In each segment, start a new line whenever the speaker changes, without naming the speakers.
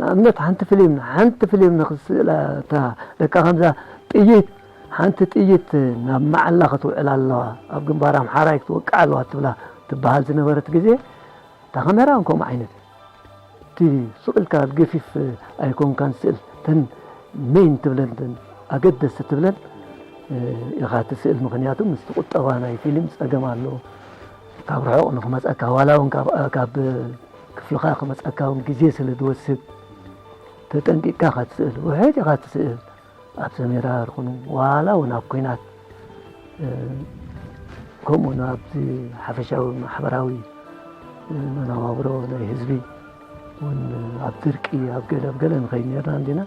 ንኣብነት ሓንቲ ፍሊም ሓንቲ ፍሊም ንክትስእላ እታ ደቃ ከምዛ ጥይት ሓንቲ ጥይት ናብ መዓላ ክትውዕል ኣለዋ ኣብ ግንባር ኣምሓራይ ክትወቅዕ ኣለዋ ትብላ ትበሃል ዝነበረት ግዜ እታ ካሜራ ውን ከምኡ ዓይነት እቲ ስቕ ኢልካ ኣብ ገፊፍ ኣይኮንካን ስእል ተን ሜን ትብለን ተን ኣገደስቲ ትብለን ኢኻ ትስእል ምክንያቱ ምስቲ ቁጠባ ናይ ፊልም ጸገም ኣለዎ ካብ ርሑቕ ንክመጸካ ዋላ ውን ካብ ክፍልኻ ክመጸካ ውን ግዜ ስለ ዝወስድ ተጠንቂቅካ እካ ትስእል ውሕጥ ኢኻ ትስእል ኣብ ሰሜራ ርኹኑ ዋላ ውን ኣብ ኩናት ከምኡ ን ኣብ ሓፈሻዊ ማሕበራዊ መነባብሮ ናይ ህዝቢ ን ኣብ ድርቂ ኣብ ገለ ብ ገለ ንኸይ ነርና እንዲና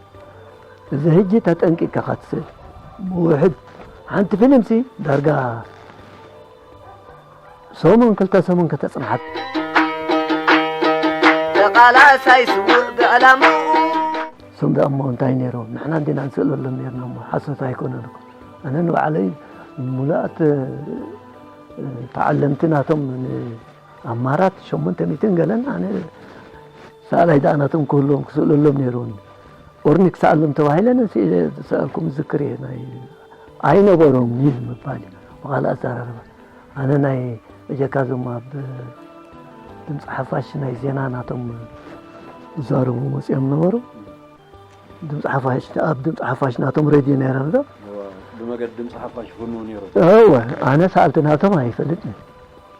እዚ ህጂ ተጠንቂቅካ እካ ትስእል ብውሕድ ሓንቲ ፊልምሲ ዳርጋ ሰሙን ክልተ ሰሙን ከተጽንሓት። ተቓላሳይ
ስውእ ብዕላምኡ። እሶም
ደኣ እሞ እንታይ ነይሮም ንሕና እንዲና ንስእለሎም ነርና እሞ ሓሶት ኣይኮነን እኮ ኣነ ንባዕለይ ሙሉኣት ተዓለምቲ ናቶም ኣማራት ሸሞንተ ሚእትን ገለን ኣነ ሰኣላይ ደኣ ናቶም ክህልዎም ክስእለሎም ነይሩኒ ኦርኒ ክሰኣሎም ተባሂለን ስእለ ዝሰኣልኩም ዝክር እየ ናይ ኣይነበሮም እዩ ምባል እዩ ብካልእ ኣዘራርባ ኣነ ናይ በጀካ ዞም ኣብ ድምፂ ሓፋሽ ናይ ዜና ናቶም ዝዛረቡ መፅኦም ነበሩ ድምፂ ሓፋሽ ኣብ ድምፂ ሓፋሽ ናቶም ሬድዮ ነይረን ዶ ብመገዲ
ድምፂ ሓፋሽ ፍኑ ነይሩ እወ ኣነ
ሰኣልቲ ናቶም ኣይፈልጥን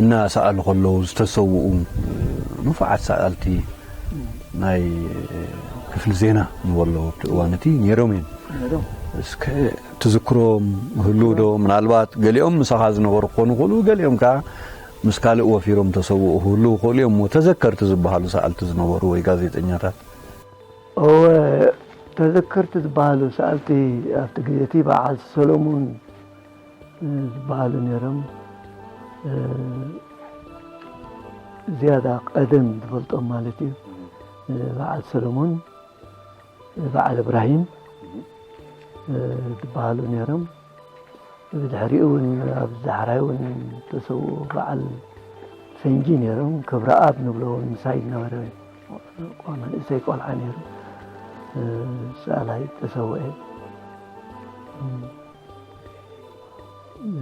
እናሰኣሉ ከለዉ ዝተሰውኡ ንፉዓት ሰኣልቲ ናይ ክፍሊ ዜና ንበሎ ኣብቲ እዋን እቲ ነይሮም እዮም። እስከ ትዝክሮም ይህልው ዶ? ምናልባት ገሊኦም ምሳኻ ዝነበሩ ክኾኑ ይኽእሉ፣ ገሊኦም ከኣ ምስ ካልእ ወፊሮም ተሰውኡ ክህልው ይኽእሉ እዮም እሞ ተዘከርቲ ዝበሃሉ ሰኣልቲ ዝነበሩ ወይ ጋዜጠኛታት? እወ፣
ተዘከርቲ ዝበሃሉ ሰኣልቲ ኣብቲ ግዜ እቲ በዓል ሰለሙን፣ ዝበሃሉ ነይሮም ዝያዳ ቀደም ዝፈልጦም ማለት እዩ በዓል ሰለሞን በዓል እብራሂም ዝበሃሉ ነይሮም ብድሕሪኡ እውን ኣብ ዛሕራይ እውን ተሰብኡ በዓል ፈንጂ ነይሮም ክብረኣብ ንብሎ እውን ምሳይ ዝነበረ መንእሰይ ቆልዓ ነይሩ ሰኣላይ ተሰውአ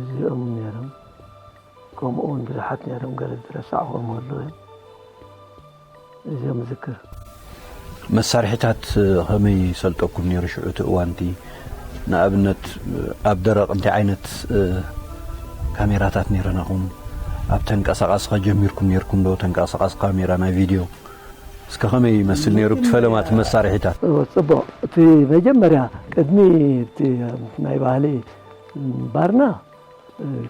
እዚኦም ነይሮም ከምኡ እውን ብዙሓት ነይሮም ገለ ዝረሳዕዎም ኣሎ እዚኦም ዝክር
መሳርሒታት ከመይ ይሰልጠኩም ነይሩ ሽዑ እቲ እዋንቲ ንኣብነት ኣብ ደረቕ እንታይ ዓይነት ካሜራታት ነይረናኹም ኣብ ተንቀሳቃሲ ከጀሚርኩም ነርኩም ዶ ተንቀሳቃሲ ካሜራ ናይ ቪድዮ እስከ ከመይ ይመስል ነይሩ እቲ ፈለማ እቲ መሳርሒታት? ጽቡቕ እቲ
መጀመርያ ቅድሚ እቲ ናይ ባህሊ ምንባርና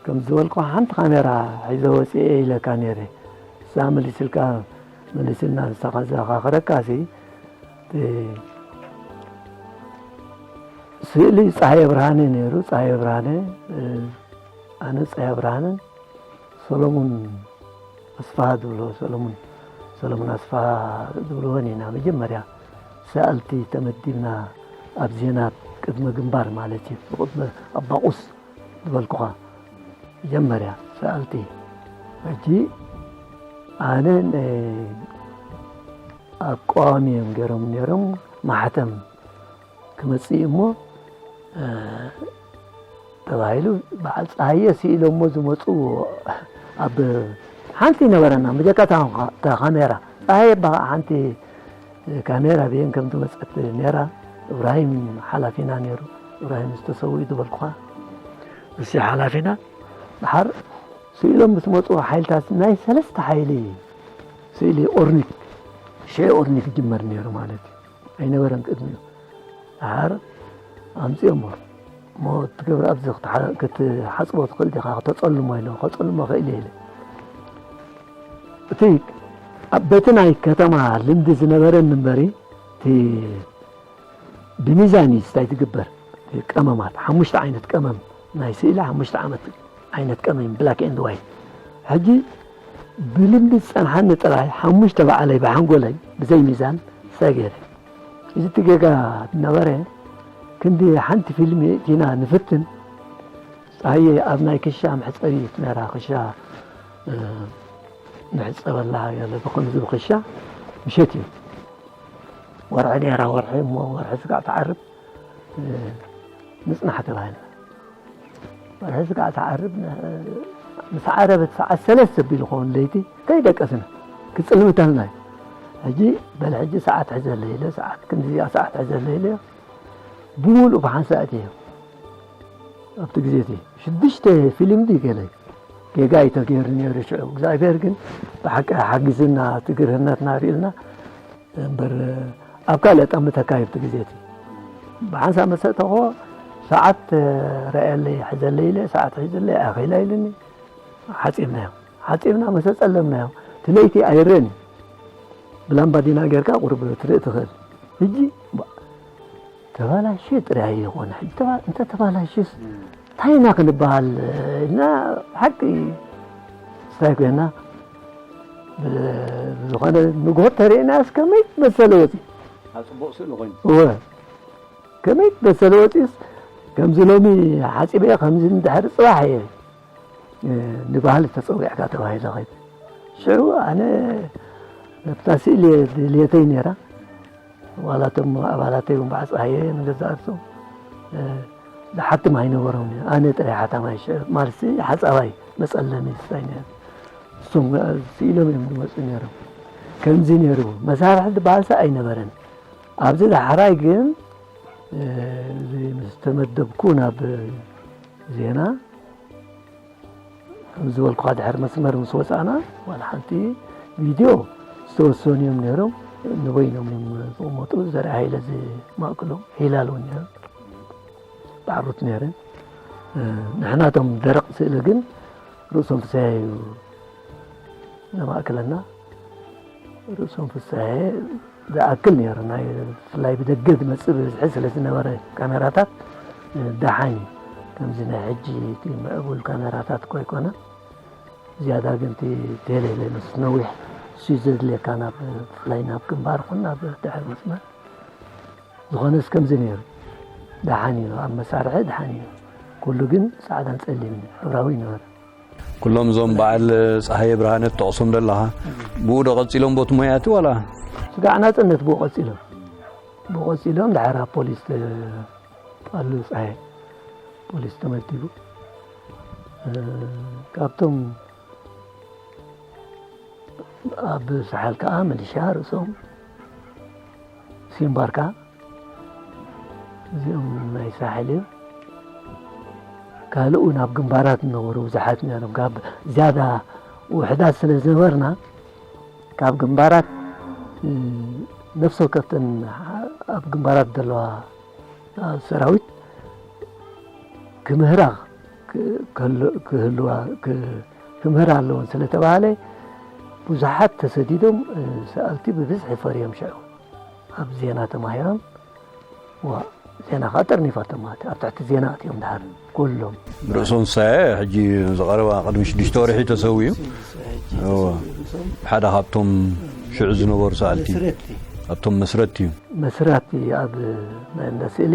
ከምዚ ዝበልኩኻ ሓንቲ ካሜራ ሒዘ ወጺኤ ኢለካ ነይረ ንሳ መሊስልካ መሊስልና ንሳኻ ዘኻኽረካሲ እቲ ስእሊ ጸሃየ ብርሃነ ነይሩ ጸሃየ ብርሃነ ኣነ ጸሃየ ብርሃነ ሰለሙን ኣስፋሃ ዝብልዎ ሰለሙን ሰለሙን ኣስፋሃ ዝብልዎ ኔና መጀመርያ ሰኣልቲ ተመዲብና ኣብ ዜና ቅድመ ግንባር ማለት እዩ ብቅድመ ኣባቑስ ዝበልኩኻ መጀመርያ ሰኣልቲ ሕጂ ኣነ ኣቋዋሚ እዮም ገይሮም ነይሮም ማሕተም ክመጽእ እሞ ተባሂሉ በዓል ፀሃየ ስኢሎሞ ዝመፁ ኣብ ሓንቲ ነበረና ብጀካ ካሜራ ፀሃየ ባ ሓንቲ ካሜራ ብየን ከም ዝመፀት ነራ እብራሂም ሓላፊና ነይሩ እብራሂም ዝተሰው ዝበልኩኻ እሲ ሓላፊና ድሓር ስኢሎም ምስ መፁ ሓይልታት ናይ ሰለስተ ሓይሊ ስእሊ ኦርኒክ ሽዑ ኦርኒክ ይጅመር ነይሩ ማለት እዩ ኣይነበረን ቅድሚኡ ደሓር ኣምጺኦሞ እሞ እቲ ገብረ ኣብዚ ክትሓጽቦ ትኽእል ዲኻ ክተጸልሞ ኢለ ከጸልሞ ክእል እየ ኢለ እቲ በቲ ናይ ከተማ ልምዲ ዝነበረኒ እምበሪ እቲ ብሚዛን እዩ ስታይ ዝግበር ቀመማት ሓሙሽተ ዓይነት ቀመም ናይ ስእሊ ሓሙሽተ ዓመት ዓይነት ቀመም ብላክ ኤንድ ዋይት ሕጂ ብልቢ ዝጸንሓኒ ጥራይ ሓሙሽተ ባዕለይ ብሓንጎለይ ብዘይ ሚዛን ሰጊረ እዚ እቲ ጌጋ ነበረ ክንዲ ሓንቲ ፊልሚ እቲና ንፍትን ጸሃየ ኣብ ናይ ክሻ መሕጸቢት ነራ ክሻ ንሕጸበላ ገለ ብከምዚ ብክሻ ምሸት እዩ ወርሒ ነራ ወርሒ እሞ ወርሒ ስጋዕ ትዓርብ ምፅናሕ ተባህለ ሕዚ ከዓ ትዓርብ ምስ ዓረበት ሰዓት ሰለስተ ቢሉ ኸውን ለይቲ ከይደቀስና ክፅልምተልና እዩ ሕጂ በል ሕጂ ሰዓት ሕዘለ ኢለ ሰዓት ክንዲዚኣ ሰዓት ሕዘለ ኢለ ብምሉእ ብሓንሳእት እየ ኣብቲ ግዜ እቲ ሽዱሽተ ፊልም ድዩ ገለ ጌጋ እዩ ተገይሩ ነይሩ ሽዑ እግዚኣብሔር ግን ብሓቂ ሓጊዝና እቲ ግርህነትና ርእዩና እምበር ኣብ ካልእ ጠምት ኣካይብቲ ግዜቲ ብሓንሳብ መሰእተኾ ሰዓት ረኣየለይ ሕዘለይ ኢለ ሰዓት ሒዘለይ ኣኺላ ኢልኒ ሓፂብናዮ ሓፂብና መሰ ፀለምናዮ እቲ ለይቲ ኣይረን ብላምባዲና ጌርካ ቁርብ ትርኢ ትኽእል ሕጂ ተባላሽዩ ጥራይ ኣይኮነን ሕጂ ተባ እንተ ተባላሽዩስ እንታይ ኢና ክንበሃል ኢልና ብሓቂ ስታይ ኮይና ዝኾነ ንግሆ ተርእናስ ከመይ መሰለ ወፂ ፅቡቅ ስእሊ
ኮይኑ እወ
ከመይ መሰለ ወፂስ ከምዚ ሎሚ ሓፂበ ከምዚ ንድሕሪ ፅባሕ እየ ንባህሊ ተፀዊዕካ ተባሂለ ኸይድ ሽዑ ኣነ ነብታ ስእሊ ድልየተይ ነይራ ዋላ እቶም ኣባላተይ እውን በዓል ጸሃየ ንገዛእ ርእሶም ዝሓትም ኣይነበሮምን እዩ። ኣነ ጥራይ ሓታማይ ሽዑ ማልሲ ሓጻባይ መጸለሚ ስታይ ነይሩ። እሶም ስኢሎም እዮም ዝመጹ ነይሮም። ከምዚ ነይሩ መሳርሒ ዝበሃልሰ ኣይነበረን። ኣብዚ ዳሕራይ ግን እዚ ምስ ተመደብኩ ናብ ዜና ከምዝበልኩኻ ድሕሪ መስመር ምስ ወፃእና ዋላ ሓንቲ ቪድዮ ዝተወሰኑ እዮም ነይሮም ንበይኖም እዮም ዝቕመጡ ዘርኢ ሃይለ ዝማእክሎም ሂላል እውን ነይሩ ባዕሩት ነይረ ንሕና እቶም ደረቕ ስእሊ ግን ርእሶም ፍስሐ እዩ ዘማእክለና ርእሶም ፍስሐ ዝኣክል ነይሩ ናይ ብፍላይ ብደገ ዝመጽእ ብብዝሒ ስለ ዝነበረ ካሜራታት ደሓን እዩ ከምዚ ናይ ሕጂ እቲ ምዕቡል ካሜራታት ኮይ ኮነ ዝያዳ ግን እቲ ቴሌ ምስ ነዊሕ እሱ ዘድልየካ ናብ ብፍላይ ናብ ግንባር ኹን ናብ ድሕሪ መስመር ዝኾነስ ከምዚ ነይሩ ደሓን እዩ ኣብ መሳርሒ ደሓን እዩ ኩሉ ግን ጻዕዳን ጸሊም ሕብራዊ ይነበረ ኩሎም እዞም
በዓል ጸሃየ ብርሃነ ትጠቕሶም ዘለኻ ብኡ ዶ ቀጺሎም ቦቲ ሞያቲ ዋላ ስጋዕ ናጽነት
ብኡ ቀጺሎም ብኡ ቀጺሎም ድሓር ኣብ ፖሊስ ኣሉ ጸሃየ ፖሊስ ተመዲቡ ካብቶም ኣብ ሰሓል ከዓ ምልሻ ርእሶም ሲምባርካ እዚኦም ናይ ሳሕል እዮም ካልኡ ናብ ግንባራት ዝነበሩ ብዙሓት ነሮም ካብ ዝያዳ ውሕዳት ስለ ዝነበርና ካብ ግንባራት ነፍሲ ወከፍተን ኣብ ግንባራት ዘለዋ ሰራዊት ክምህራ ክህልዋ ክምህራ ኣለወን ስለተባህለ ብዙሓት ተሰዲዶም ሰኣልቲ ብብዝሒ ፈርዮም ሽዑ ኣብ ዜና ተማሂሮም ዜና ከዓ ጠርኒፋቶም ማለት ኣብ ትሕቲ ዜና ኣትዮም ድሓር ኩሎም ርእሶም ሳየ
ሕጂ ዝቐረባ ቅድሚ ሽዱሽተ ወርሒ ተሰዊኡ ሓደ ካብቶም ሽዑ ዝነበሩ ሰኣልቲ ኣብቶም መስረት እዩ መስራት ኣብ
ናይ ስእሊ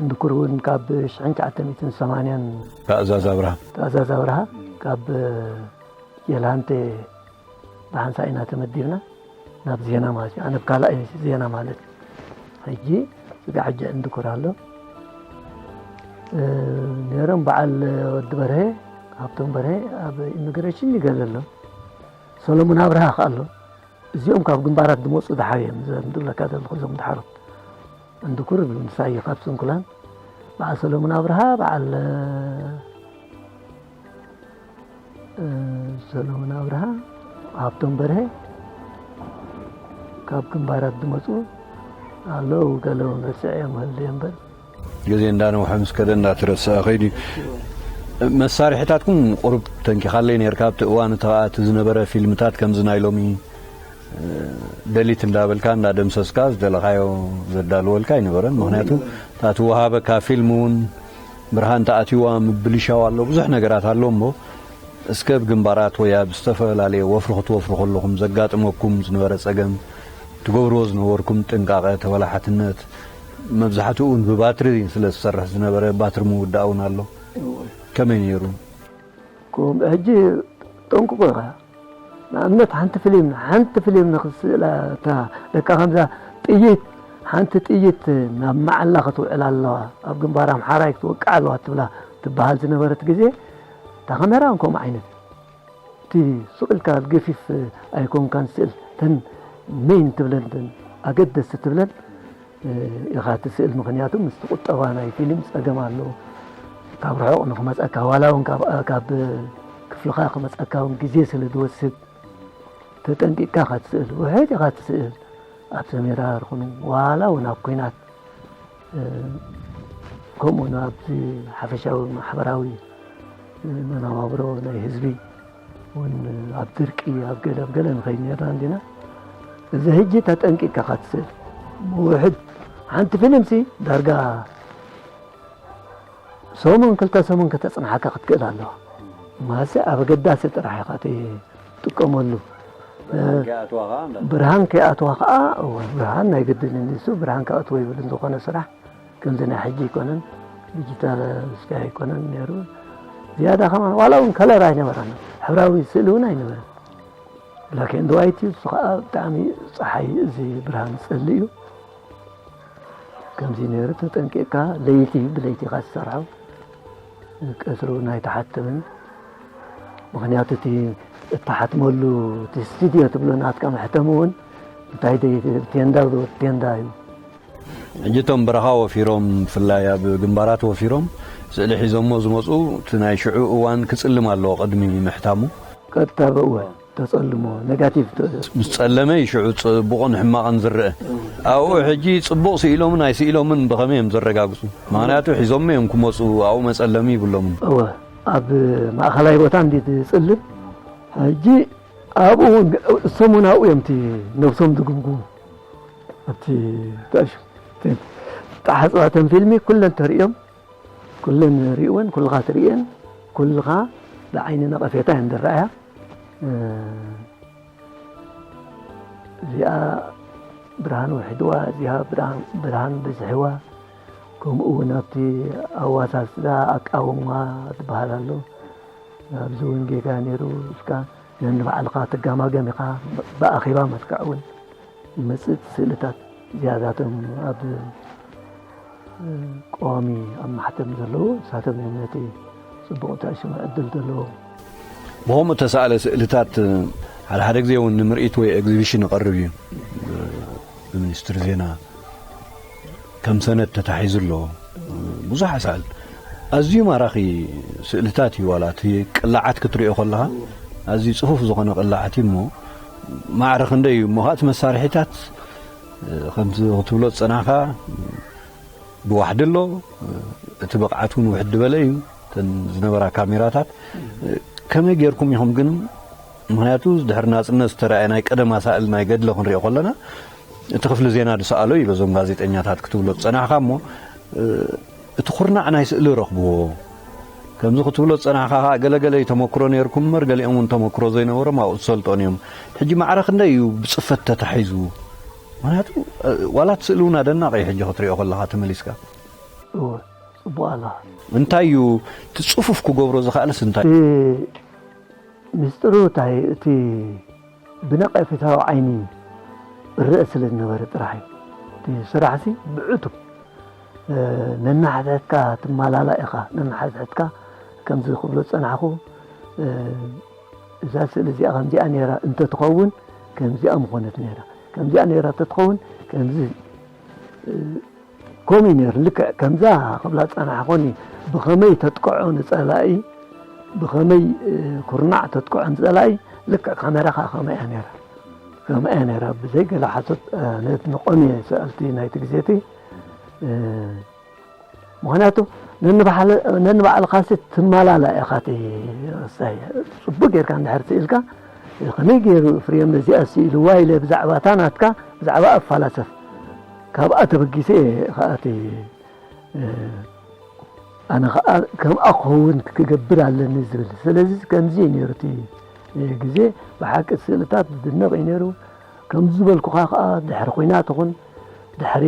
እንድኩር እውን ካብ ሽሕን ትሽዓተ ሚእትን ሰማንያን ትእዛዝ ኣብርሃ
ትእዛዝ ኣብርሃ ካብ
ጀልሃንቴ ብሓንሳእ ኢና ተመዲብና ናብ ዜና ማለት እዩ ኣነ ካልኣይ ዜና ማለት እዩ ሕጂ ስጋሕጂ እንድኩር ኣሎ ነይሮም በዓል ወዲ በርሀ ሃብቶም በርሀ ኣብ ኢሚግሬሽን ይገለ ኣሎ ሰሎሙን ኣብርሃ ከ ኣሎ እዚኦም ካብ ግንባራት ዝመፁ ድሓር እዮም ዝብለካ ዘለኹ እዞም ድሓሮም እንድኩር ይብሉ ንሳየ ካብ ስንኩላን በዓል ሰለሙን ኣብርሃ በዓል ሰለሙን ኣብርሃ ሃብቶም በርሀ ካብ ግንባራት ዝመፁ ኣለዉ ገለ እውን ረስዐዮም ህል እምበር ግዜ እንዳነውሐ
ምስ ከደ እንዳተረስዐ ከይዱ መሳርሒታትኩም ቁሩብ ተንኪኻለይ ነርካ ኣብቲ እዋን እቲ ከኣ እቲ ዝነበረ ፊልምታት ከምዚ ናይ ሎሚ ደሊት እንዳበልካ እንዳደምሰስካ ዝደለኻዮ ዘዳልወልካ ኣይነበረን ምክንያቱ እታ ትወሃበካ ፊልም እውን ብርሃን ተኣትዋ ምብልሻው ኣሎ ብዙሕ ነገራት ኣሎ እሞ እስከ ብ ግንባራት ወይ ኣብ ዝተፈላለየ ወፍሪ ክትወፍሩ ከለኹም ዘጋጥመኩም ዝነበረ ጸገም ትገብርዎ ዝነበርኩም ጥንቃቐ ተበላሓትነት መብዛሕትኡ እውን ብባትሪ ስለ ዝሰርሕ ዝነበረ ባትሪ ምውዳእ እውን ኣሎ ከመይ ነይሩ
ሕጂ ጠንቁቑ ኢኻ ንኣብነት ሓንቲ ፍሊም ሓንቲ ፍሊም ንክስእላ እታ ደቃ ከምዛ ጥይት ሓንቲ ጥይት ናብ መዓላ ክትውዕል ኣለዋ ኣብ ግንባር ኣምሓራይ ክትወቅዕ ኣለዋ ትብላ ትበሃል ዝነበረት ግዜ እታ ካሜራ እውን ከምኡ ዓይነት እቲ ሱቕ ኢልካ ገፊፍ ኣይኮንካን ስእል ተን መይን ትብለን ኣገደስቲ ትብለን ኢኻ ትስእል ምኽንያቱ ምስቲ ቁጠባ ናይ ፊልም ጸገም ኣሎ ካብ ርሑቕ ንክመጸካ ዋላ እውን ካብ ክፍልኻ ክመጸካ እውን ግዜ ስለ ዝወስድ ተጠንቂቅካ ኢኻ ትስእል ውሕድ ኢኻ ትስእል ኣብ ሰሜራ ርኹኑ ዋላ እውን ኣብ ኩናት ከምኡ ኣብዚ ሓፈሻዊ ማሕበራዊ መነባብሮ ናይ ህዝቢ ውን ኣብ ድርቂ ኣብ ገለ ኣብ ገለ ንኸይድ ኔርና እንዲና እዚ ህጂ ተጠንቂቅካ ካትስእል ብውሕድ ሓንቲ ፊልምሲ ዳርጋ ሰሙን ክልተ ሰሙን ከተጽንሓካ ክትክእል ኣለዋ ማሰ ኣብ ኣገዳሲ ጥራሕ ኢኻ ትጥቀመሉ ብርሃን ከይኣትዋ ከዓ ብርሃን ናይ ግድን እሱ ብርሃን ክኣትዎ ይብል ዝኾነ ስራሕ ከምዚ ናይ ሕጂ ኣይኮነን ዲጂታል ስካይ ኣይኮነን ነይሩ ዝያዳ ከማ ዋላ እውን ከለር ኣይነበረን ሕብራዊ ስእሊ እውን ኣይነበረን ብላክ ኤንድ ዋይት እዩ እሱ ከዓ ብጣዕሚ ፀሓይ እዚ ብርሃን ፀሊ እዩ ከምዚ ነይሩ ተጠንቂቕካ ለይቲ ብለይቲ ኢኻ ዝሰርሖ ቀትሪ እውን ኣይተሓትምን ምክንያቱ እቲ እተሓትመሉ እቲ ስትድዮ ትብሎ ናትካ መሕተሚ እውን እንታይ ቴንዳ ቴንዳ እዩ
ሕጂ እቶም በረኻ ወፊሮም ብፍላይ ኣብ ግንባራት ወፊሮም ስእሊ ሒዞሞ ዝመጹ እቲ ናይ ሽዑ እዋን ክጽልም ኣለዎ ቅድሚ ምሕታሙ። ቀጥታ ብእወ
ተጸልሞ ነጋቲቭ። ምስ ጸለመ እዩ
ሽዑ ጽቡቕን ሕማቕን ዝረኣ። ኣብኡ ሕጂ ጽቡቕ ስኢሎምን ኣይስኢሎምን ብኸመይ እዮም ዘረጋግጹ? ምኽንያቱ ሒዞሞ እዮም ክመጹ ኣብኡ መጸለሚ ይብሎምን። እወ ኣብ
ማእከላይ ቦታ እንድዩ ዝጽልም ሕጂ ኣብኡ እውን እሶም እውን ኣብኡ እዮም እቲ ነብሶም ዝግምግሙ። ኣብቲ ዝተሓጽባ ተን ፊልሚ ኩለን ተርእዮም ኩለን ርእወን ኩልኻ ትርእየን ኩልኻ ብዓይኒ ነቐፌታ እየን ዝረኣያ እዚኣ ብርሃን ውሕድዋ እዚኣ ብርሃን ብዝሕዋ ከምኡ እውን ኣብቲ ኣዋሳስዳ ኣቃውማ ዝበሃል ኣሎ ኣብዚ እውን ጌጋ ነይሩ እስካ ነንባዕልካ ትጋማገም ኢኻ ብኣኼባ መስክዕ እውን ዝመጽእ ስእልታት ዝያዳቶም ኣብ ቀዋሚ ኣብ ማሕተም ዘለዉ ንሳቶም እዮም ነቲ ጽቡቕ ተዕሽሙ ዕድል ዘለዎ ብኸምኡ
እተሳእለ ስእልታት ሓደ ሓደ ግዜ እውን ንምርኢት ወይ ኤግዚቢሽን ይቐርብ እዩ ብሚኒስትሪ ዜና ከም ሰነድ ተታሒዙ ኣሎ ብዙሕ ኣሳእል ኣዝዩ ማራኺ ስእልታት እዩ ዋላ እቲ ቅላዓት ክትሪኦ ከለኻ ኣዝዩ ጽፉፍ ዝኾነ ቅላዓት እዩ እሞ ማዕረ ክንደይ እዩ እሞ ከዓ እቲ መሳርሒታት ከምቲ ክትብሎ ዝጸናሕካ ብዋሕዲ ኣሎ እቲ ብቕዓት እውን ውሕድ በለ እዩ እተን ዝነበራ ካሜራታት ከመይ ጌርኩም ኢኹም ግን ምኽንያቱ ድሕሪ ናጽነት ዝተራእየ ናይ ቀደም ኣሳእል ናይ ገድለ ክንሪኦ ከለና እቲ ክፍሊ ዜና ዝሰኣሎ እዩ በዞም ጋዜጠኛታት ክትብሎ ዝጸናሕካ እሞ እቲ ኩርናዕ ናይ ስእሊ ረኽብዎ ከምዚ ክትብሎ ዝጸናሕካ ከኣ ገለገለ እዩ ተመክሮ ነይርኩም እምበር ገሊኦም እውን ተመክሮ ዘይነበሮም ኣብኡ ዝሰልጦን እዮም ሕጂ ማዕረ ክንደይ እዩ ብጽፈት ተታሒዙ ምክንያቱ ዋላ እቲ ስእሊ እውን ኣደናቂ እዩ ሕጂ ክትሪኦ ከለካ ተመሊስካ ጽቡቅ
ኣለካ እንታይ
እዩ እቲ ጽፉፍ ክገብሮ ዝክኣልስ እንታይ ሚስጥሩ
እታይ እቲ ብነቀፌታዊ ዓይኒ እረእ ስለ ዝነበረ ጥራሕ እዩ እቲ ስራሕሲ ብዕቱብ ነናሕትሕትካ ትማላላእ ኢኻ ነናሕትሕትካ ከምዚ ክብሎ ዝጸናሕኩ እዛ ስእሊ እዚኣ ከምዚኣ ነይራ እንተትኸውን ከምዚኣ ምኾነት ነይራ ከምዚኣ ነይራ እንተትኸውን ከምዚ ከምኡ እዩ ነይሩ ልክዕ ከምዛ ክብላ ዝጸናሕኩኒ ብኸመይ ተጥቅዖ ንጸላኢ ብኸመይ ኩርናዕ ተጥቅዖ ንጸላኢ ልክዕ ካሜራኻ ከምኣ እያ ነይራ ከምኣ እያ ነይራ ብዘይ ገለ ሓሶት ነት ንቆምየ ሰኣልቲ ናይቲ ግዜቲ ምክንያቱ ነንባዕልኻሲ ትመላላ ኢኻ እቲ ሳይ ጽቡቅ ጌርካ እንድሕር ስኢልካ ከመይ ገይሩ ፍርዮም ነዚኣ ስኢልዋ ኢለ ብዛዕባ እታ ናትካ ብዛዕባ ኣፋላሰፍ ካብኣ ተበጊሰ እየ ኸዓ እቲ ኣነ ኸዓ ከምኣ ክኸውን ክገብር ኣለኒ ዝብል ስለዚ ከምዚ እዩ ነይሩ እቲ ግዜ ብሓቂ ስእልታት ዝድነቕ እዩ ነይሩ ከም ዝበልኩኻ ከዓ ድሕሪ ኩናት ኹን ድሕሪ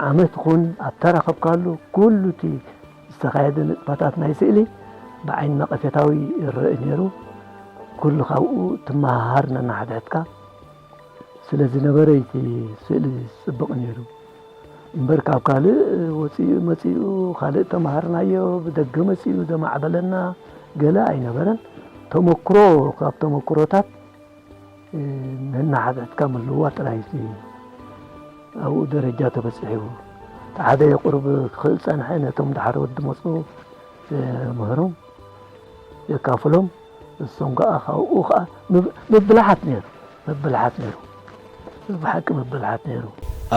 ዓመት ኹን ኣብ ተረኸብካሉ ኩሉ እቲ ዝተኻየደ ንጥፈታት ናይ ስእሊ ብዓይኒ ነቐፌታዊ ይረእ ነይሩ ኩሉ ካብኡ ትመሃሃር ነናሓድሕድካ ስለ ዝነበረ እዩ እቲ ስእሊ ዝፅብቕ ነይሩ እምበር ካብ ካልእ ወፂኡ መፂኡ ካልእ ተምሃርናዮ ብደገ መፂኡ ዘማዕበለና ገለ ኣይነበረን ተመክሮ ካብ ተመክሮታት ነናሓትሕትካ ምልዋ ጥራይ እዩ ኣብኡ ደረጃ ተበፂሑ እቲ ሓደ የቁርብ ክኽእል ፀንሐ ነቶም ድሓር ወዲ መፁ ምህሮም የካፍሎም ንሶም ከኣ ካብኡ ከኣ ምብልሓት ነይሩ ምብልሓት ነይሩ እዚ ብሓቂ ምብልሓት ነይሩ።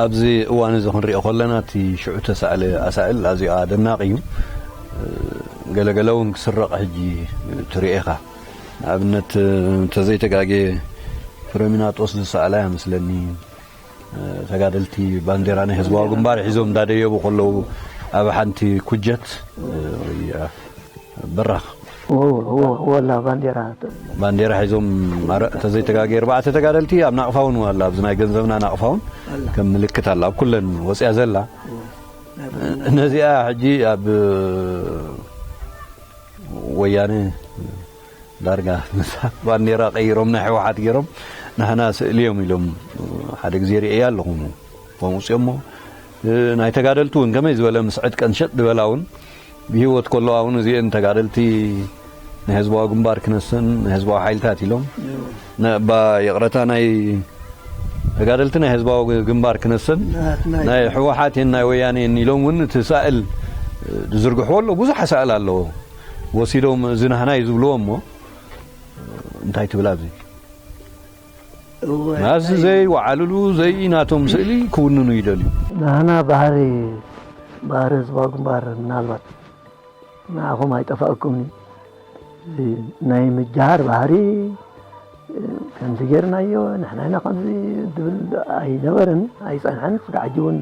ኣብዚ እዋን
እዚ ክንሪኦ ከለና እቲ ሽዑ እተሳእለ ኣሳእል ኣዝዩ ኣደናቂ እዩ። ገለ ገለ እውን ክስረቕ ሕጂ ትሪኦ ኢኻ። ንኣብነት እንተዘይተጋግየ ፍረሚናጦስ ዝሰኣላ እያ መስለኒ። ተጋደልቲ ባንዴራ ናይ ህዝባዊ ግንባር ሒዞም እንዳደየቡ ከለዉ ኣብ ሓንቲ ኩጀት በራኽ ወላ
ባንዴራ ባንዴራ
ሒዞም ተዘይተጋገየ ኣርባዕተ ተጋደልቲ ኣብ ናቕፋ እውን ኣላ ኣብዚ ናይ ገንዘብና ናቕፋ እውን ከም ምልክት ኣላ ኣብ ኩለን ወፅያ ዘላ ነዚኣ ሕጂ ኣብ ወያነ ዳርጋ ነታ ባንዴራ ቀይሮም ናይ ሕወሓት ጌሮም ናህና ስእሊ እዮም ኢሎም ሓደ ግዜ ሪኤያ ኣለኹ ኣውፅኦሞ ናይ ተጋደልቲ እውን ከመይ ዝበለ ምስ ዕጥቀን ሸጥ ድበላ እውን ብሂወት ከለዋ እውን እዚኤን ተጋደልቲ ናይ ህዝባዊ ግንባር ክነሰን ናይ ህዝባዊ ሓይልታት ኢሎም ባ ይቕረታ ናይ ተጋደልቲ ናይ ህዝባዊ ግንባር ክነሰን ናይ ሕወሓት ናይ ወያኔ ኢሎም እውን እቲ ሳእል ዝዝርግሕዎ ኣሎ ብዙሕ ሳእል ኣለዎ ወሲዶም እዚ ናህና እዩ ዝብልዎ እሞ እንታይ ትብል ኣብዚ ናዚ ዘይወዓልሉ ዘይ ናቶም ስእሊ ክውንኑ ይደልዩ ናህና ባህሪ
ባህሪ ህዝባዊ ግንባር ምናልባት ንዓኹም ኣይጠፋእኩም ናይ ምጃሃር ባህሪ ከምዚ ጌርናዮ ንሕና ኢና ከምዚ ዝብል ኣይነበረን ኣይፀንሐን ስጋዕ ሕጂ እውን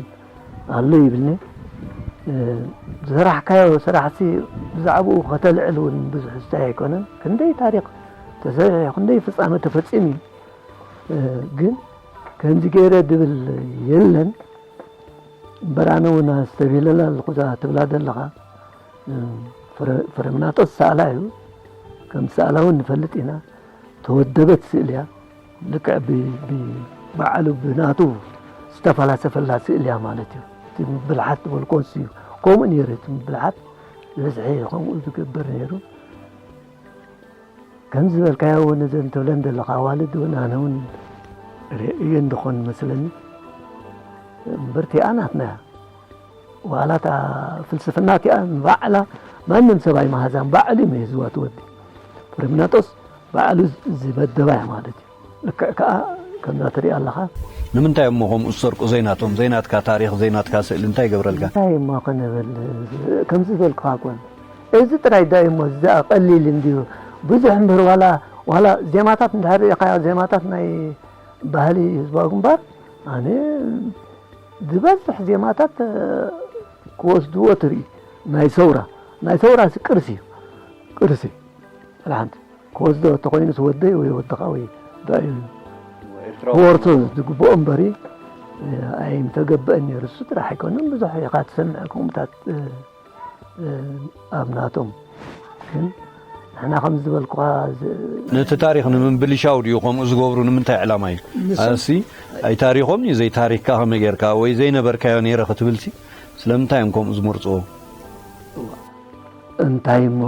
ኣሎ ይብልኒ ዝሰራሕካዮ ስራሕሲ ብዛዕብኡ ከተልዕል እውን ብዙሕ ዝታይ ኣይኮነን ክንደይ ታሪክ ተሰሪሑ ክንደይ ፍፃመ ተፈፂሙ እዩ ግን ከምዚ ገይረ ድብል የለን እምበር ኣነ እውን ኣስተብሂለላ ኣለኹ እዛ ትብላ ዘለኻ ፍረምናጦስ ሰኣላ እዩ ከም ሰኣላ እውን ንፈልጥ ኢና ተወደበት ስእሊ እያ ልክዕ ብባዕሉ ብናቱ ዝተፈላሰፈላ ስእሊ እያ ማለት እዩ እቲ ምብልሓት ዝበልኮ እሱ እዩ ከምኡ ነይሩ እቲ ምብልሓት ዝበዝሐ ከምኡ ዝገብር ነይሩ ከም ዝበልካዮ እውን እዘን ትብለን ዘለካ ኣዋልድ እውን ኣነ እውን ርእየ እንደኾን መስለኒ እምበር እቲኣ ናትና እያ ዋላ እታ ፍልስፍና እቲኣ ንባዕላ ማንም ሰብ ኣይመሃዛን ባዕሉ እዩ መሂዝዋ ትወዲ ፍሬምናጦስ ባዕሉ ዝመደባ እያ ማለት እዩ ልክዕ ከኣ ከምዛ ትሪኣ ኣለኻ። ንምንታይ እሞ
ከምኡ ዝሰርቁ ዘይናቶም ዘይናትካ ታሪኽ ዘይናትካ ስእሊ እንታይ ይገብረልካ። እንታይ እሞ ክንብል
ከምዚ ዝበልኩኻ እኮ እዚ ጥራይ ዶ እዩሞ ዝኣ ቀሊል እንድዩ ብዙሕ እምበር ዋላ ዋላ ዜማታት እንድሕር ርኢኻዮ ዜማታት ናይ ባህሊ ህዝባዊ ግንባር ኣነ ዝበዝሕ ዜማታት ክወስድዎ ትርኢ ናይ ሰውራ ናይ ሰውራ ቅርሲ እዩ ቅርሲ ጥራሓንቲ ክወስዶ ተኾይኑስ ወደይ ወይ ወድኻ ወይ ብዕል ክወርሶ ዝግብኦም በሪ ኣይምተገበአን ነይሩ እሱ ጥራሕ ኣይኮነን ብዙሕ ኢኻ ትሰምዕ ከምኡታት ኣብ ናቶም ግን ንሕና ከም ዝበልኩኻ ነቲ ታሪክ
ንምብልሻው ድዩ ከምኡ ዝገብሩ ንምንታይ ዕላማ እዩ ኣሲ ኣይ ታሪኮም እዩ ዘይ ታሪክካ ከመይ ጌርካ ወይ ዘይነበርካዮ ነይረ ክትብልሲ ስለምንታይ እዮም ከምኡ ዝምርፅዎ
እንታይ እሞ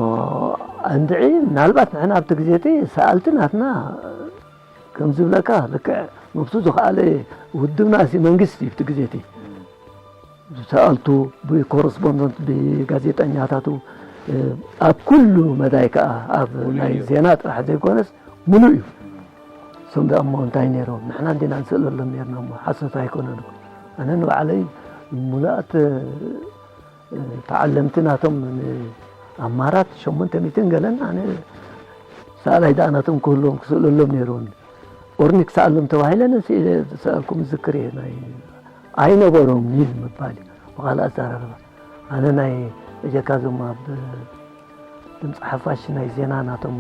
እንድዒ ምናልባት ንሕና ኣብቲ ግዜ እቲ ሰኣልቲ ናትና ከም ዝብለካ ልክዕ ነብሱ ዝኸኣለ ውድብና እዚ መንግስቲ እዩ እቲ ግዜ እቲ ሰኣልቱ ብኮረስፖንደንት ብጋዜጠኛታቱ ኣብ ኩሉ መዳይ ከዓ ኣብ ናይ ዜና ጥራሕ ዘይኮነስ ምሉእ እዩ እሶም ደኣ እሞ እንታይ ነይሮም ንሕና እንዲና ንስእለሎም ነርና እሞ ሓሶት ኣይኮነን ኣነ ንባዕለይ ሙሉኣት ተዓለምቲ ናቶም ኣብ ማራት ሸሞንተ ሚእትን ገለን ኣነ ሰኣላይ ደኣ ናቶም ክህልዎም ክስእለሎም ነይሩን ኦርኒ ክሰኣሎም ተባሂለን ስኢለ ዝሰኣልኩም ዝክር እየ ናይ ኣይነበሮም እዩ ምባል እዩ ብካልእ ኣዘራርባ ኣነ ናይ እጀካ ዞም ኣብ ድምፂ ሓፋሽ ናይ ዜና ናቶም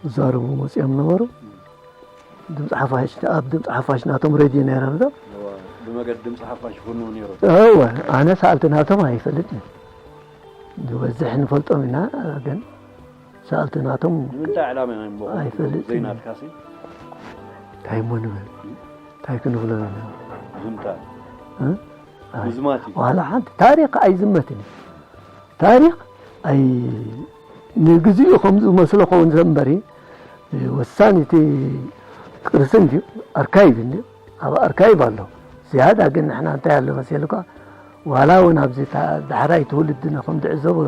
ዝዛረቡ መፅኦም ነበሩ ድምጺ ሓፋሽ ኣብ ድምጺ ሓፋሽ ናቶም ሬድዮ ነይረን ዶ እወ ብመገዲ
ድምጺ ሓፋሽ ይፍንው ነይሩ። እወ ኣነ
ሰኣልቲ ናቶም ኣይፈልጥን ዝበዝሕ ንፈልጦም ኢና ግን ሰኣልቲ ናቶም ንምንታይ ዕላማ
ኢና እሞ ኣይፈልጥን። ዘይናትካሲ እንታይ
እሞ ንብል እንታይ ክንብሎ ኢና ዝምታ እ? ኣይ፣
ምዝማት እዩ። ዋላ ሓንቲ
ታሪክ ኣይዝመትን እዩ ታሪክ ኣይ ንግዚኡ ከም ዝመስሎ ከውን ዘንበሪ ወሳኒ እቲ ቅርሲ እንድዩ ኣርካይቭ እንድዩ ኣብ ኣርካይቭ ኣሎ ዝያዳ ግን ንሕና እንታይ ኣሎ መሰልካ ዋላ እውን ኣብዚ ዳሕራይ ትውልድና ከም ዝዕዘቦ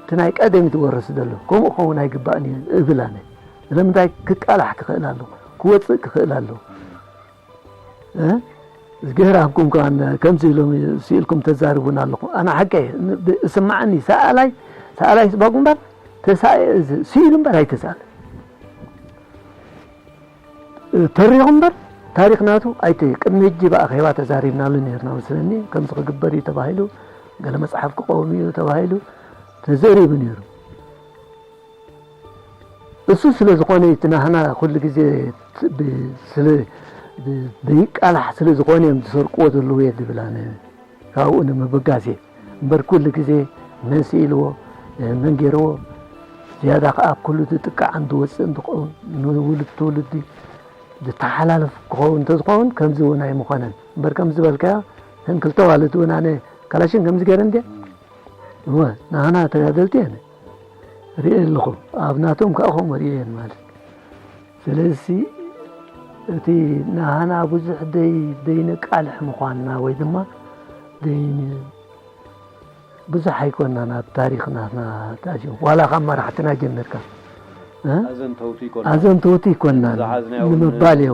እቲ ናይ ቀደም ዝወረስ ዘሎ ከምኡ ክኸውን ኣይግባእን እዩ እብል ኣነ ስለምንታይ ክቃላሕ ክኽእል ኣለዎ ክወፅእ ክኽእል ኣለዎ እዝግሄር ኣብኩም ከማን ከምዚ ኢሎም ስኢልኩም ተዛርቡና ኣለኹም ኣነ ሓቀይ እስማዓኒ ሰኣላይ ሰኣላይ ስባጉ እምበር ስኢሉ እምበር ኣይተሳለ ተሪኹ እምበር ታሪክ ናቱ ኣይተ ቅድሚ ሕጂ ብኣኼባ ተዛሪብናሉ ነርና መስለኒ ከምዚ ክግበር እዩ ተባሂሉ ገለ መፅሓፍ ክቆም እዩ ተባሂሉ ተዘሪቡ ነይሩ እሱ ስለ ዝኾነ እቲ ናህና ኩሉ ግዜ ዘይቃላሕ ስለ ዝኾነ እዮም ዝሰርቅዎ ዘለዉ እየ ዝብል ኣነ ካብኡ ንምብጋስ እየ እምበር ኩሉ ግዜ መን ስኢልዎ መን ገይርዎ ዝያዳ ከዓ ኣብ ኩሉ ዝጥቃዕን ዝወፅእን ዝኸውን ንውልድ ትውልዲ ዝተሓላለፍ ክኸውን እንተዝኸውን ከምዚ እውን ኣይምኾነን እምበር ከም ዝበልካዮ እተን ክልተ ዋልት እውን ኣነ ካላሽን ከምዚ ገይረ እንደ እወ ንሃና ተጋደልቲ እየን ሪኤ ኣለኹ ኣብ ናቶም ከዓ ከምኡ ሪኤ ማለት ስለዚ እቲ ንሃና ብዙሕ ዘይነቃልሕ ምኳንና ወይ ድማ ብዙሕ ኣይኮናን ኣብ ታሪክ ናትና ዋላ ካብ መራሕትና ጀሚርካ ኣዘንተውቲ ኣይኮናን ንምባል እየ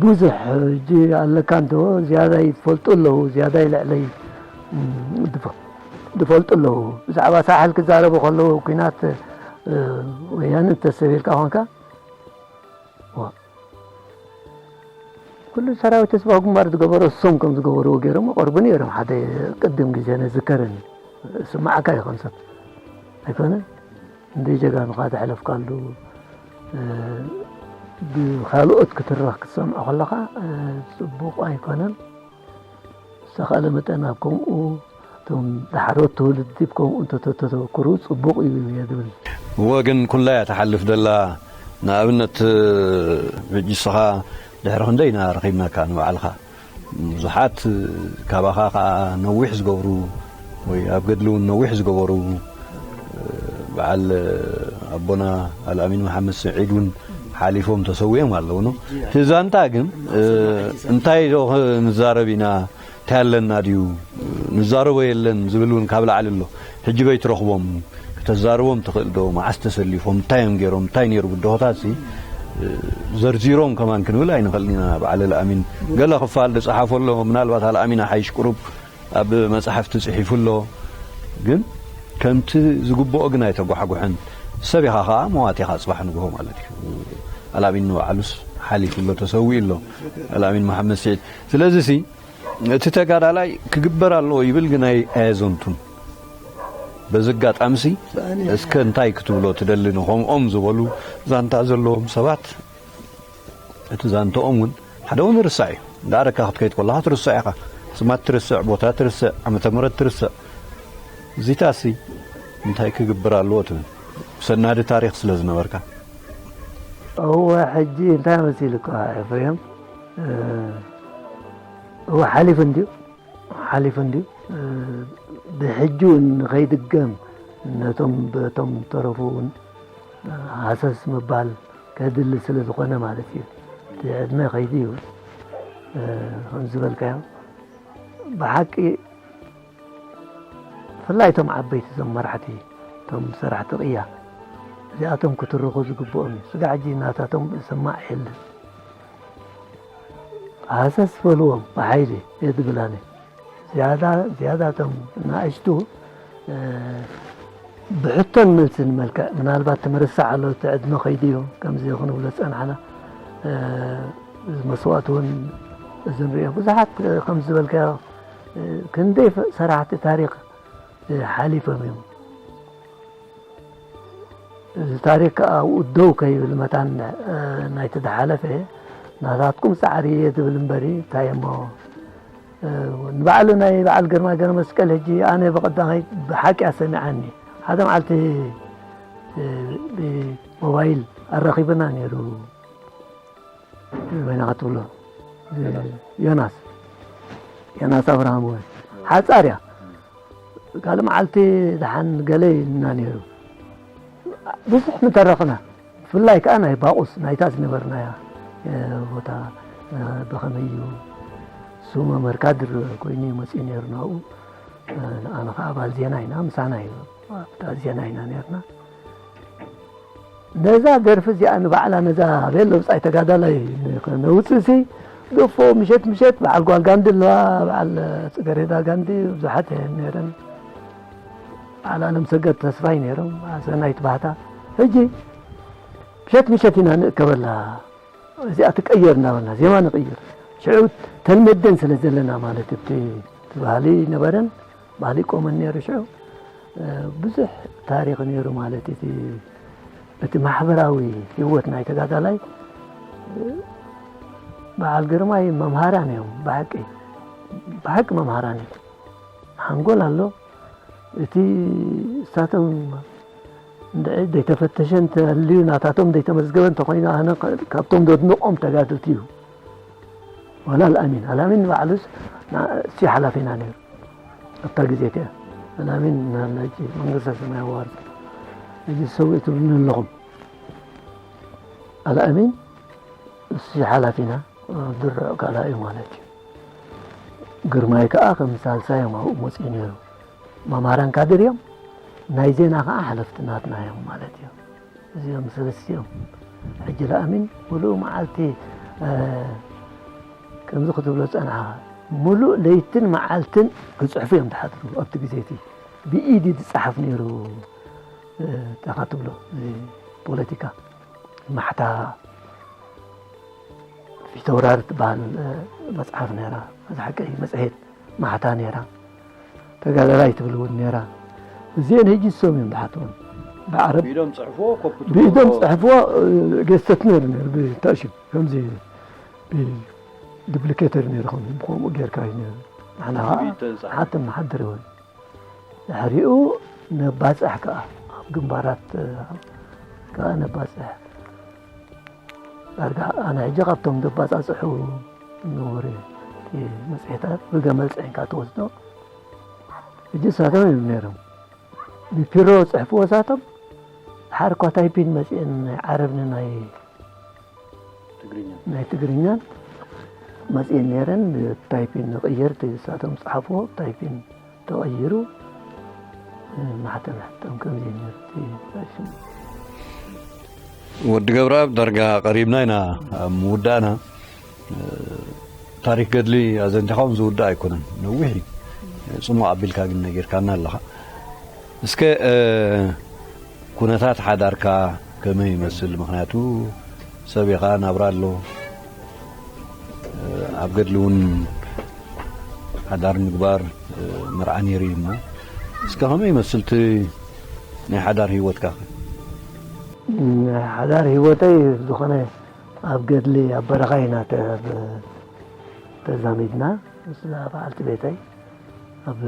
ብዙሕ ሕጂ
ኣለካ እንተ ዝያዳ ይፈልጡ ኣለዉ ዝያዳ ይልዕለይ ዝፈልጡ ኣለዉ ብዛዕባ ሳሕል ክዛረቡ ከለዉ ኩናት ወያነ እንተሰብ ኢልካ ኮንካ ኩሉ ሰራዊት ህዝባዊ ግንባር ዝገበሮ እሶም ከም ዝገበርዎ ገይሮም ይቐርቡ ነይሮም። ሓደ ቅድም ግዜ ንዝከርን ስማዕካ እዩ ከም ሰብ ኣይኮነ እንደ ጀጋኑኻ ዘሕለፍካሉ ብካልኦት ክትረኽ ክትሰምዖ ከለኻ ፅቡቕ ኣይኮነን። ብዝተኻእለ መጠን ኣብ ከምኡ እቶም ዳሕሮት ትውልዲ ብ ከምኡ እንተተተኩሩ ጽቡቕ እዩ እየ ዝብል። እወ ግን
ኩላ እያ ትሓልፍ ዘላ ንኣብነት ሕጂ እስኻ ድሕሪ ክንደይ ኢና ረኺብናካ ንባዕልኻ ብዙሓት ካባኻ ከኣ ነዊሕ ዝገብሩ፣ ወይ ኣብ ገድሊ ውን ነዊሕ ዝገበሩ በዓል ኣቦና ኣልኣሚን መሓመድ ስዒድ ውን ሓሊፎም ተሰዊኦም ኣለዉ ን እቲ ዛንታ ግን እንታይ ዶ ንዛረብ ኢና እንታይ ኣለና ድዩ ንዛረቦ የለን ዝብል ውን ካብ ላዕሊ ኣሎ ሕጂ በይ ትረኽቦም ክተዛርቦም ትኽእል ዶ መዓስ ተሰሊፎም እንታይ እዮም ገይሮም እንታይ ነይሩ ብድሆታት ሲ ዘርዚሮም ከማን ክንብል ኣይንኽእልን ኢና በዓል ኣልኣሚን ገለ ክፋል ዝጸሓፎ ኣሎ ምናልባት ኣልኣሚን ኣሓይሽ ቅሩብ ኣብ መጻሕፍቲ ጽሒፉ ኣሎ ግን ከምቲ ዝግብኦ ግን ኣይተጓሕጉሕን ሰብ ኢኻ ከኣ መዋቲ ኢኻ ጽባሕ ንግሆ ማለት እዩ ኣልኣሚን ንባዕሉስ ሓሊፉ ኣሎ ተሰዊኡ ኣሎ ኣልኣሚን መሓመድ ስዒድ ስለዚ ሲ እቲ ተጋዳላይ ክግበር ኣለዎ ይብል ግን ኣየዘንቱን በዚ ኣጋጣሚ ሲ እስከ እንታይ ክትብሎ ትደሊ ንኸምኦም ዝበሉ ዛንታ ዘለዎም ሰባት እቲ ዛንትኦም ውን ሓደ ውን ይርሳዕ እዩ ደኣር እካ ክትከይድ ኮለኻ ትርሶዕ ኢኻ ስማት ትርስዕ ቦታ ትርስዕ ዓመተ ምረት ትርስዕ እዚታሲ እንታይ ክግብር ኣለዎ ትብል ሰናዲ ታሪኽ ስለ ዝነበርካ።
እወ ሕጂ እንታይ መሲሉካ ኤፍሬም እወ ሓሊፉ እንድዩ ሓሊፉ እንድዩ ብሕጂ ውን ንኸይድገም ነቶም በቶም ዝተረፉ ውን ሃሰስ ምባል ከድሊ ስለ ዝኾነ ማለት እዩ እቲ ዕድመ ከይዲ እዩ ከምዝበልካዮ ብሓቂ ብፍላይ እቶም ዓበይቲ እዞም መራሕቲ እቶም ሰራሕቲ ቅያ እዚኣቶም ክትርኹ ዝግብኦም እዩ ስጋ ሕጂ ናታቶም ዝሰማዕ የለን ሃሰስ በልዎም ብሓይሊ እየ ዝብል ኣነ ዝያዳ ዝያዳ እቶም ንኣሽቱ ብሕቶን መልስን መልክዕ ምናልባት ትምርሳዕ ኣሎ እቲ ዕድመ ከይዲ እዩ ከምዚ ክንብሎ ዝፀናሕና መስዋእቲ እውን እዚ ንሪኦ ብዙሓት ከም ዝበልካዮ ክንደይ ሰራሕቲ ታሪክ ሓሊፎም እዮም እዚ ታሪክ ከዓ ኣብኡ ደው ከይብል መታን ናይቲ ዝሓለፈ ናታትኩም ፃዕሪ እየ ዝብል እምበሪ እንታይ እሞ ንባዕሉ ናይ በዓል ግርማ ገረ መስቀል ሕጂ ኣነ ብቐዳማይ ብሓቂ እያ ሰሚዓኒ ሓደ መዓልቲ ብሞባይል ኣራኺብና ነይሩ ወይና ክትብሎ ዮናስ ዮናስ ኣብርሃም ወይ ሓፃር እያ ካልእ መዓልቲ ድሓን ገለ ኢልና ነይሩ ብዙሕ ምተረኽና ብፍላይ ከዓ ናይ ባቑስ ናይታ ዝነበርናያ ቦታ ብኸመይ እዩ ስሙ መርካድር ኮይኑ እዩ መፅኡ ነይሩ ናብኡ ንኣነ ከዓ ኣባል ዜና ኢና ምሳና እዩ ኣብታ ዜና ኢና ነርና ነዛ ደርፊ እዚኣ ንባዕላ ነዛ ቤት ለውፃይ ተጋዳላይ ነውፅእሲ ገፎ ምሸት ምሸት በዓል ጓል ጋንዲ ኣለዋ በዓል ፅገሬዳ ጋንዲ ብዙሓት እየን ነይረን በዓል ኣለም ሰገድ ተስፋይ ነይሮም ሰናይት ባህታ ሕጂ ምሸት ምሸት ኢና ንእከበላ እዚኣ ትቀየር እናበልና ዜማ ንቕይር ሽዑ ተልመደን ስለ ዘለና ማለት እቲ ትባህሊ ነበረን ባህሊ ቆመን ነይሩ ሽዑ ብዙሕ ታሪኽ ነይሩ ማለት እቲ እቲ ማሕበራዊ ህይወት ናይ ተጋዳላይ በዓል ግርማይ መምሃራን እዮም ብሓቂ ብሓቂ መምሃራን እዮም ሓንጎል ኣሎ እቲ እሳቶም ዘይተፈተሸ እንተልዩ ናታቶም ዘይተመዝገበ እንተኮይኑ ኣነ ካብቶም ዘድንቆም ተጋድልቲ እዩ ዋላ ኣልኣሚን ኣልኣሚን ንባዕሉስ ንሱ እዩ ሓላፊና ነይሩ ኣብታ ግዜ እቲኣ ኣልኣሚን እናሃለ ሕጂ መንግስተ ሰማይ የዋርሶ ሕጂ ሰዊእ ትብሉኒ ኣለኹም ኣልኣሚን ንሱ እዩ ሓላፊና ድርዕ ካልኣ እዩ ማለት እዩ ግርማይ ከዓ ከም ሳልሳይ እዮም ኣብኡ መፅኡ ነይሩ መማራን ካድር እዮም ናይ ዜና ከዓ ሓለፍቲ ናትና እዮም ማለት እዮም እዚኦም ሰለስቲኦም ሕጂ ለኣሚን ምሉእ መዓልቲ ከምዚ ክትብሎ ዝጸናሕኻ ምሉእ ለይትን መዓልትን ክጽሕፉ እዮም ዝሓድሩ ኣብቲ ግዜ እቲ ብኢድ ዝጸሓፍ ነይሩ ታኻ ትብሎ ፖለቲካ ማሕታ ፊተውራር ትበሃል መጽሓፍ ነይራ እዚ ሓቂ መጽሔት ማሕታ ነይራ ተጋዳላይ ትብል እውን ነይራ እዚኤን ህጂ ዝሰሙ እዮም ዝሓትኦም ብዓረብ ብኢዶም ጽሕፍዎ ኮፒ ትብሎ ብኢዶም ጽሕፍዎ ገዝተት ነይሩ ነይሩ ብታእሹ ከምዚ ብድፕሊኬተር ነይሩ ከም ከምኡ ጌርካ እዩ ነይሩ ንሕና ከዓ ብኢድ ተንጻሕ ንሓትም ንሓድር እውን ድሕሪኡ ነባጽሕ ከዓ ኣብ ግንባራት ከዓ ነባጽሕ ዳርጋ ኣነ ሕጂ ካብቶም ዘባጻጽሑ ንቡር መጽሔታት ብገመል ጽዒንካ ትወስዶ ሕጂ ሳቶም እዮም ነይሮም ብፒሮ ጽሕፍዎ ሳቶም ሓርኳ ታይፒን መጽኤን ናይ ዓረብኒ ናይ ናይ ትግርኛን መጽኤን ነይረን ታይፒን ንቕየርቲ ሳቶም ጽሓፍዎ ታይፒን ተቐይሩ ማሕተም
ሕተም ከም ዘይምህርቲ ወዲ ገብረኣብ ዳርጋ ቀሪብና ኢና ኣብ ምውዳእና ታሪክ ገድሊ ኣዘንቲኻ ውን ዝውዳእ ኣይኮነን ነዊሕ እዩ ፅሙቅ ኣቢልካ ግን ነጊርካና ኣለኻ እስከ ኩነታት ሓዳርካ ከመይ ይመስል ምክንያቱ ሰብ ኢኻ ናብራ ኣሎ ኣብ ገድሊ ውን ሓዳር ምግባር መርዓ ነይሩ እዩ እሞ እስከ ከመይ ይመስል እቲ ናይ ሓዳር ሂወትካ ከ?
ሓዳር ሂወተይ ዝኾነ ኣብ ገድሊ ኣብ በረኻ ኢና ተዛሚድና ምስዛ በዓልቲ ቤተይ ኣብ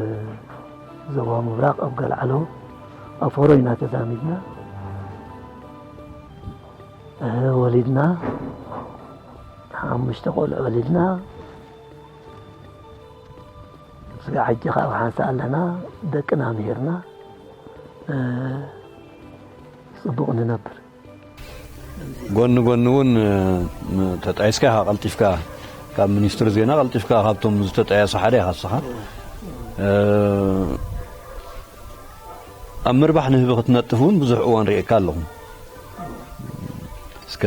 ዞባ ምብራቕ ኣብ ገልዓሎ ኣብ ፎሮ ኢና ተዛሚድና ወሊድና ሓሙሽተ ቆልዑ ወሊድና ስጋ ሕጂ ካብ ሓንሳ ኣለና ደቅና ምሂርና ፅቡቕ ንነብር ጎኒ
ጎኒ እውን ተጣይስካ ኢኻ ቀልጢፍካ ካብ ሚኒስትሪ ዜና ቀልጢፍካ ካብቶም ዝተጣየሱ ሓደ ኢኻ ንስኻ ኣብ ምርባሕ ንህቢ ክትነጥፍ ውን ብዙሕ እዋን ሪኤካ ኣለኹ እስከ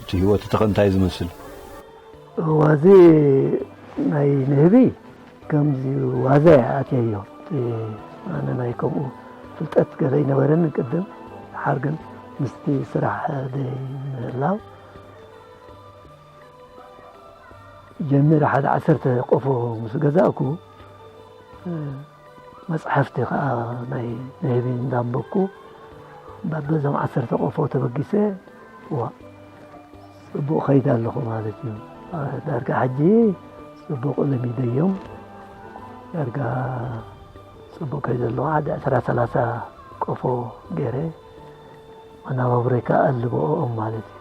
እቲ ሂወት እቲ ከ እንታይ ዝመስል።
ዋዘ ናይ ንህቢ ከምዚ ዋዛ እየ ኣትየዮ ኣነ ናይ ከምኡ ፍልጠት ገለ ኣይነበረንን ቅድም ሓር ግን ምስቲ ስራሕ ደይ ምህላው ጀሚረ ሓደ ዓሰርተ ቆፎ ምስ ገዛእኩ መጽሓፍቲ ከኣ ናይ ንህቢ እንዳንበብኩ በበዞም ዓሰርተ ቆፎ ተበጊሰ ዋእ ጽቡቕ ከይድ ኣለኹ ማለት እዩ ዳርጋ ሕጂ ጽቡቕ ለሚደዮም ዳርጋ ጽቡቕ ከይ ዘለዎ ሓደ ዕስራ ሰላሳ ቆፎ ገይረ መናባብሮይ ከኣ ኣልበኦም ማለት እዩ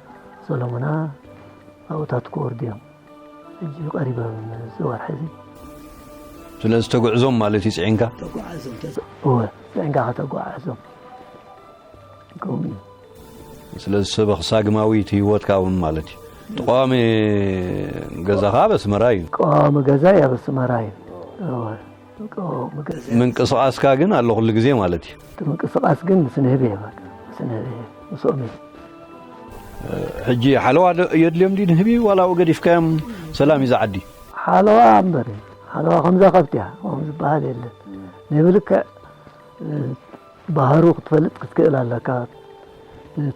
ሰሎሞና ኣብኡታት ክወርዱ እዮም ሕጂ ቀሪቦም እዚ ወርሒ እዚ
ስለዚ ተጉዕዞም ማለት እዩ ፅዒንካ ተጓዓዞም
እወ ፅዒንካ ከተጓዓዞም ከምኡ እዩ
ስለዚ ሰበ ክሳግማዊት ህይወትካ እውን ማለት እዩ እቲ ቀዋሚ ገዛኻ ኣብ ኣስመራ እዩ ቀዋሚ ገዛይ ኣብ
ኣስመራ እዩ እወ
ምንቅስቃስካ ግን ኣሎ ኩሉ ግዜ ማለት እዩ እቲ ምንቅስቃስ ግን
ምስ ንህቢ እየ በቃ ምስ ንህቢ እየ ምስኦም እየ ሕጂ
ሓለዋ የድልዮም ድዩ ንህቢ ዋላ ኣብኡ ገዲፍካዮም ሰላም እዩ ዝዓዲ ሓለዋ
እምበር ሓለዋ ከምዛ ከብቲ እያ ከም ዝበሃል የለን ንህቢ ልክዕ ባህሩ ክትፈልጥ ክትክእል ኣለካ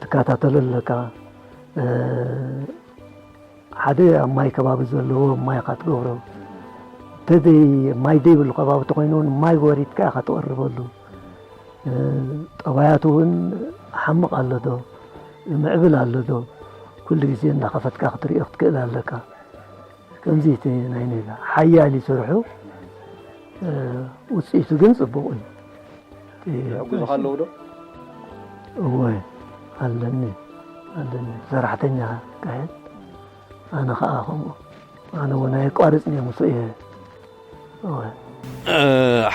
ትከታተሎ ኣለካ ሓደ ኣብ ማይ ከባቢ ዘለዎ ማይ ኢኻ ትገብሮ እንተዘይ ማይ ዘይብሉ ከባቢ ተኾይኑ እውን ማይ ወሪድካ ኢኻ ትቐርበሉ ጠባያቱ እውን ሓምቕ ኣሎ ዶ ምዕብል ኣሎ ዶ ኩሉ ግዜ እናኸፈትካ ክትሪኦ ክትክእል ኣለካ ከምዚ እቲ ናይ ኔጋ ሓያል ይስርሑ ውፅኢቱ ግን ፅቡቕ እዩ
ይሕግዙኻ
ኣለዉ ዶ? እወ ኣለኒ ኣለኒ ሰራሕተኛ ካህን ኣነ ኸኣ ከምኡ ኣነ እውን ኣየቋርፅን እየ ምስኡ እየ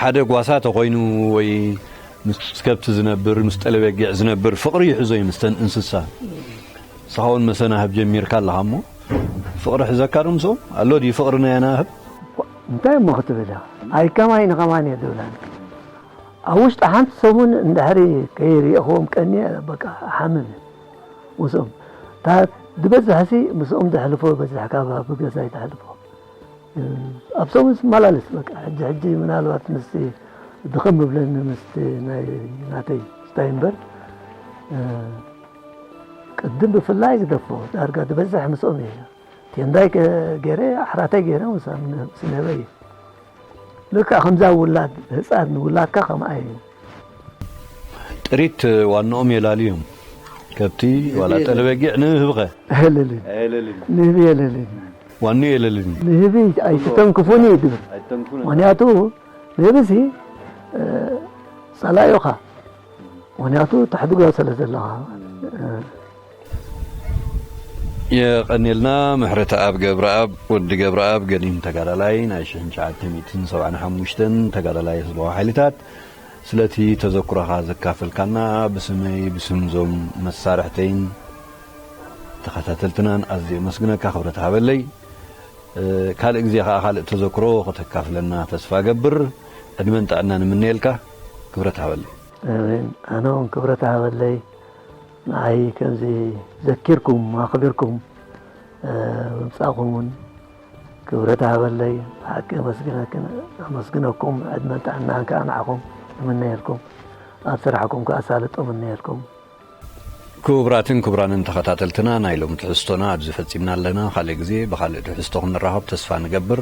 ሓደ ጓሳ ተኾይኑ ወይ ምስ ከብቲ ዝነብር ምስ ጠለበጊዕ ዝነብር ፍቕሪ ይሕዞ እዩ ምስተን እንስሳ ንስኻ እውን መሰናህብ ጀሚርካ ኣለኻ እሞ ፍቕሪ ሕዘካ ዶ ምስኦም ኣሎ ድዩ ፍቕሪ ናይ ኣናህብ እንታይ እሞ
ክትብል ኢኻ ኣይከማይ ንኸማን እየ ዝብላ ኣብ ውሽጢ ሓንቲ ሰሙን እንድሕሪ ከይርኤኹዎም ቀንየ በቃ እሓምም ምስኦም እታ ዝበዝሕሲ ምስኦም ዘሕልፎ ይበዝሕ ካብ ኣብ ገዛይ ዘሕልፎ ኣብ ሰሙን ስመላለስ በቃ ሕጂ ሕጂ ምናልባት ምስቲ ድኽም ምብለኒ ምስቲ ናይ ናተይ ስታይ እምበር ቅድም ብፍላይ ግደፎ ዳርጋ ዝበዝሕ ምስኦም እየ ቴንዳይ ገይረ ኣሕራተይ ገይረ ምስ ንህበይ ልክዕ ከምዛ ውላድ ህፃን ንውላድካ ከምኣ እዩ። ጥሪት
ዋንኦም የላልዮም ከብቲ ዋላ ጠለበጊዕ ንህብኸ
ኣየለልን ንህቢ የለልን
ዋንኡ የለልን ንህቢ
ኣይትተንክፉኒ እዩ ድብል ምክንያቱ ንህብሲ ጸላኢኻ ምክንያቱ ተሕድጎ ስለ ዘለኻ
የቀንየልና ምሕረተኣብ ገብረኣብ ወዲ ገብረኣብ ገዲም ተጋዳላይ ናይ ሽሕን ትሽዓተ ሚእትን ሰብዓን ሓሙሽተን ተጋዳላይ ህዝባዊ ሓይልታት ስለቲ ተዘክሮኻ ዘካፈልካና ብስመይ ብስም ዞም መሳርሕተይን ተኸታተልትናን ኣዝየ የመስግነካ ክብረት ሃበለይ ካልእ ግዜ ከዓ ካልእ ተዘክሮ ከተካፍለና ተስፋ ገብር ዕድመን ጥዕናን እምነየልካ ክብረት ሃበለይ ኣሜን ኣነ
እውን ክብረት ሃበለይ ንዓይ ከምዚ ዘኪርኩም ኣኽቢርኩም ምምጻእኹም ውን ክብረት ሃበለይ ብሓቂ ኣመስግነኩም ዕድመን ጥዕናን ከኣ ንዓኹም እምነየልኩም ኣብ ስራሕኩም ከኣ ኣሳልጦ እምነየልኩም። ክቡራትን
ክቡራንን ተኸታተልትና ናይ ሎሚ ትሕዝቶና ኣብዚ ፈጺምና ኣለና። ካልእ ግዜ ብኻልእ ትሕዝቶ ክንራኸብ ተስፋ ንገብር።